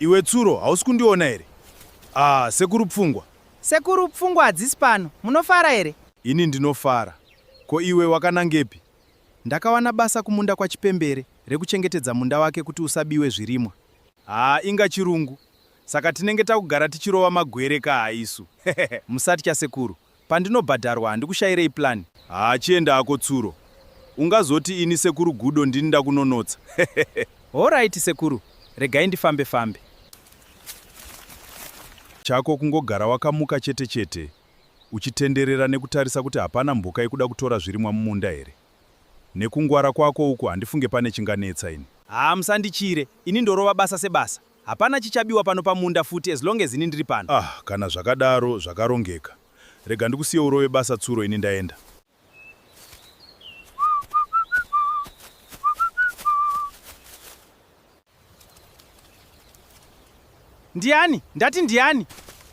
Iwe Tsuro, hausi kundiona here? Ah, sekuru pfungwa. Sekuru pfungwa hadzisi pano. Munofara here? Ini ndinofara. Ko iwe wakanangepi? Ndakawana basa kumunda kwaChipembere rekuchengetedza munda wake kuti usabiwe zvirimwa. Haa, inga chirungu. Saka tinenge takugara tichirova magwere ka haisu. Musatya sekuru. Pandinobhadharwa handikushairei plan. Haa chienda hako tsuro. Ungazoti ini sekuru Gudo ndini ndakunonotsa hehehe. Horaiti sekuru regai ndifambe fambe. Chako kungogara wakamuka chete chete uchitenderera nekutarisa kuti hapana mhuka ikuda kutora zvirimwa mumunda here? Nekungwara kwako uku handifunge pane chinganetsa ini. Haa musandityire ini ndorova basa sebasa. Hapana chichabiwa pano pamunda futi as long as ini ndiri pano. Ah kana zvakadaro zvakarongeka. Rega ndikusiye urove basa tsuro ini ndaenda. Ndiani? Ndati ndiani?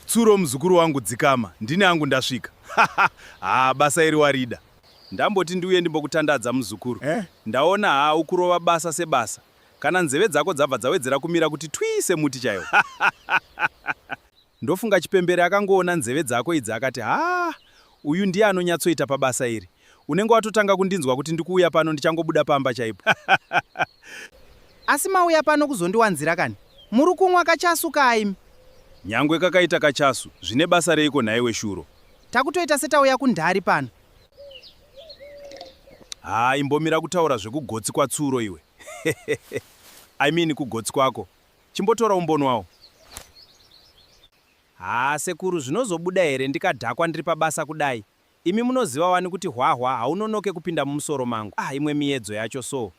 Tsuro muzukuru wangu dzikama, ndini angu ndasvika. Haa basa iri warida. Ndamboti ndiuye ndimbokutandadza muzukuru. Eh? Ndaona haa ukurova basa sebasa. Kana nzeve dzako dzabva dzawedzera kumira kuti twii semuti chaiwo. Ndofunga chipembere akangoona nzeve dzako idzi akati haa uyu ndiye anonyatsoita pabasa iri. Unenge watotanga kundinzwa kuti ndikuuya pano ndichangobuda pamba chaipo. Asi mauya pano kuzondiwanzira kani? Muri kunwa kachasu kaa imi? Nyangwe kakaita kachasu, zvine basa reiko nhaiwe Shuro? Takutoita setauya kundari pano. Haa imbomira kutaura zvekugotsi kwatsuro iwe I mean kugotsi kwako. Chimbotora umbonwawo. Haa sekuru zvinozobuda here ndikadhakwa ndiri pabasa kudai. Imi munoziva wani kuti hwahwa haunonoke kupinda mumusoro mangu. Ah imwe miyedzo yacho soo.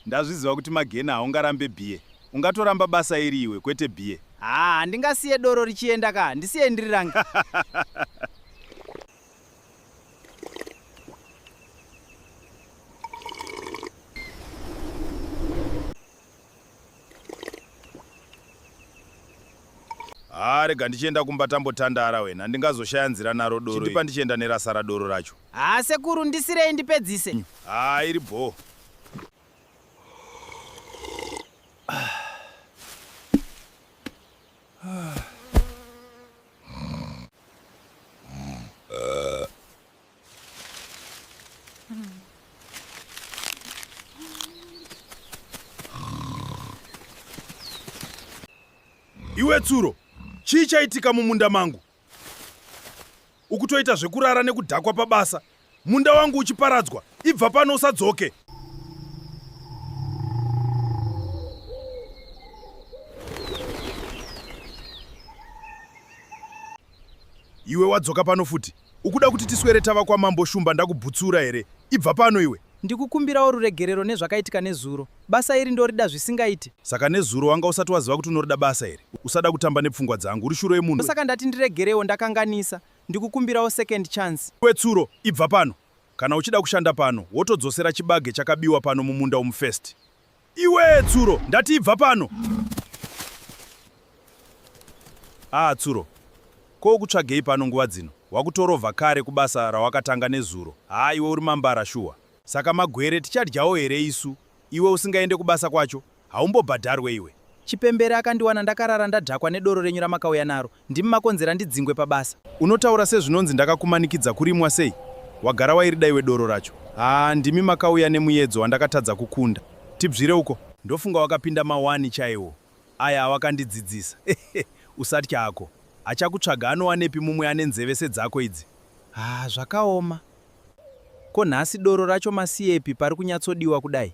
Ndazviziva kuti magena haungarambe bie. Ungatoramba basa iri iwe kwete bie. Haa handingasiye doro richienda ka ndisiye ndiri range. haa rega ndichienda kumba tambotandara wena ndingazoshaya nzira naro doro chindipa ndichienda nerasara doro racho haa sekuru ndisirei ndipedzise mm. haa iri bhoo Iwe tsuro, chii chaitika mumunda mangu? Ukutoita zvekurara nekudhakwa pabasa. Munda wangu uchiparadzwa, ibva pano usadzoke. Iwe wadzoka pano futi. Ukuda kuti tiswere tava kwamambo Shumba ndakubhutsura here? Ibva pano iwe! Ndikukumbirawo ruregerero nezvakaitika nezuro. Basa iri ndorida zvisingaiti. Saka nezuro wanga usati waziva kuti unorida basa iri? Usada kutamba nepfungwa dzangu, uri shuro yemunhu. Ndosaka ndati ndiregerewo, ndakanganisa. Ndikukumbirawo second chance. Iwe Tsuro, ibva pano! Kana uchida kushanda pano, wotodzosera chibage chakabiwa pano mumunda umu first. Iwee Tsuro, ndati ibva pano. Ah Tsuro, ko ukutsvagei pano nguva dzino? Wakutorovha kare kubasa rawakatanga nezuro. Haa iwe uri mambara shuwa. Saka magwere tichadyawo here isu? Iwe usingaende kubasa kwacho, haumbobhadharwe iwe. Chipembere akandiwana ndakarara ndadhakwa nedoro renyu ramakauya naro. Ndimi makonzera ndidzingwe pabasa. Unotaura sezvinonzi ndakakumanikidza kurimwa sei? Wagara wairida iwe doro racho. Haa ndimi makauya nemuyedzo wandakatadza kukunda. Tibzvire uko. Ndofunga wakapinda mawani chaiwo aya awakandidzidzisa. Usatya hako. Achakutsvaga anowanepi mumwe ane nzeve sedzako idzi? Haa zvakaoma. Ko nhasi doro racho masiyepi pari kunyatsodiwa kudai?